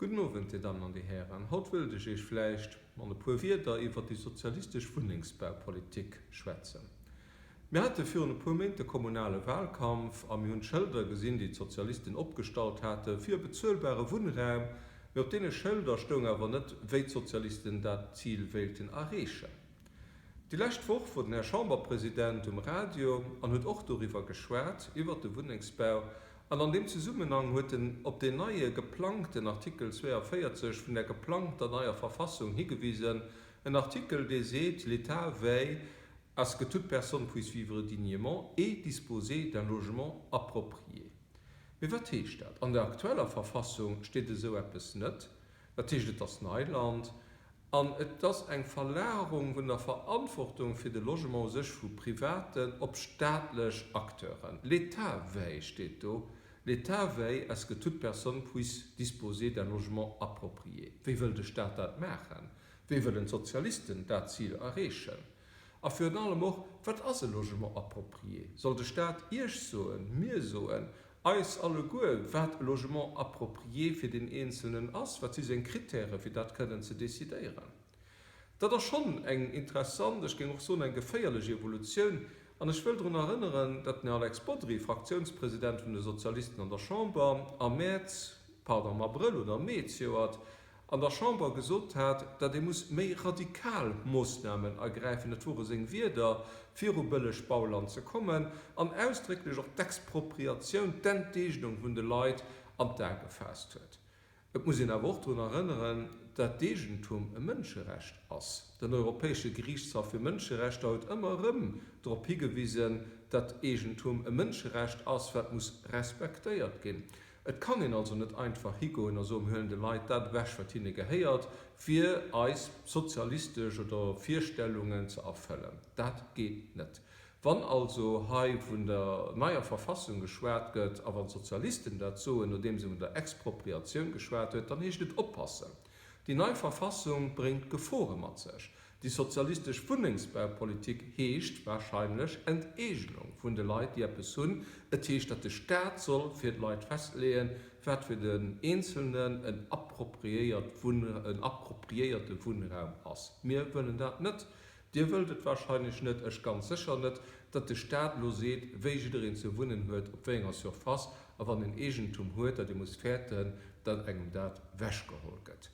Gudden Owend, Dir Dammen an Dir Hären. Haut wëllt ech Iech vläicht mat e puer Wierder iwwert déi sozialistesch Wunnengsbaupolitik schwätzen. Mir hate virun e puer Méint de kommunale Wahlkampf a mir hunn d'Schëlder gesinn, déi d'Sozialisten opgestallt hate fir e bezuelbare Wunnraum. Mee op deene Schëlder stoung awer net, wéi d'Sozialisten dat Zil wéilten erreechen. Déi lescht Woch wor den Här Chamberpresident um Radio an huet och doriwwer geschwat, iwwert de Wunnengsbau An an deem Zesummenhang huet en op deen neie geplangten Artikel 42 vun der geplangter neier Verfassung higewisen, en Artikel, dee seet, L'État veille à ce que toute personne puisse vivre dignement et disposer d'un logement approprié. Mee wat heescht dat? An der aktueller Verfassung steet esou eppes net. Dat heescht, et ass Neiland. An et ass eng Verlagerung vun der Verantwortung fir de Logement u sech vu privaten op staatlech Acteuren. L'État veille, steet do, l'État veille à ce que toute personne puisse disposer d'un logement approprié. Wéi wëll de Staat dat maachen? Wéi wëllen d'Sozialisten dat Zil erreechen? A virun allem och, Wat ass e Logement approprié? Soll de Staat Iech soen, mir soen, eis alleguer, wat e Logement approprié fir deen Eenzelnen ass, wat si seng Kritäre fir dat kënnen ze decidéieren. Dat ass schonn eng interessant, ech géing och soen eng geféierlech Evolutioun. An ech wëll drun erënneren, datt den Här Alex Bodry, Fraktiounspresident vun de Sozialisten an der Chamber, am Mäerz, pardon, am Abrëll oder am Mee zejoert, an der Chamber gesot hat, datt ee muss méi radikal Moossnamen ergräifen, dat wore seng Wierder, fir u bëlleg Bauland ze kommen, an ausdrécklech och d'Expropriatioun, d'Enteegnung vun de Leit an d'A gefaasst huet. Et muss een awer och drun erënneren, datt d'Eegentum e Mënscherecht ass. Den Europäesche Geriichtshaff fir Mënscherechter huet ëmmer erëm drop higewisen, datt Eegentum e Mënscherecht ass, wat muss respektéiert ginn. Et kann een also net einfach higoen a soen, mir huelen de Leit dat ewech, wat hinne gehéiert, fir eis sozialistesch oder Virstellungen ze erfëllen. Dat geet net. Wann also hei vun der neier Verfassung geschwat gëtt a wann d'Sozialisten dat soen, nodeems ee vun der Expropriatioun geschwat huet, dann heescht et oppassen. Déi nei Verfassung bréngt Gefore mat sech. Déi sozialistesch Wunnengsbaupolitik heescht warscheinlech Enteegnung vun de Leit, déi eppes hunn. Et heescht, datt de Staat soll fir d'Leit festleeën, wat fir den Eenzelnen en appropriéierte Wunnraum ass. Mir wëllen dat net. Dir wëllt et wahrscheinlech net, ech ganz sécher net, datt de Staat elo seet, wéi jiddereen ze wunnen huet, op wéi enger Surface, a wann en Eegentum huet, dat ee muss fäerten, datt engem dat wechgeholl gëtt.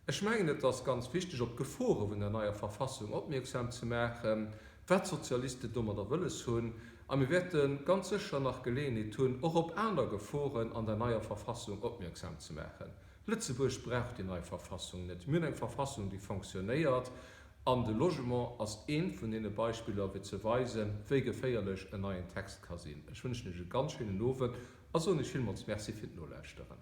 Ech mengen, et ass ganz wichteg, op d'Gefore vun der neier Verfassung opmierksam ze maachen, wat d'Sozialisten domadder wëlles hunn. A mir wäerte ganz sécher nach Geleeënheet hunn, och op aner Geforen an der neier Verfassung opmierksam ze maachen. Lëtzebuerg brauch déi nei Verfassung net. Mir hunn eng Verfassung, déi fonctionnéiert. An de Logement ass eent vun deene Beispiller, fir ze weisen, wéi geféierlech en neien Text ka sinn. Ech wënschen Iech e ganz schéinen Owend a soen Iech villmools Merci fir d'Nolauschteren.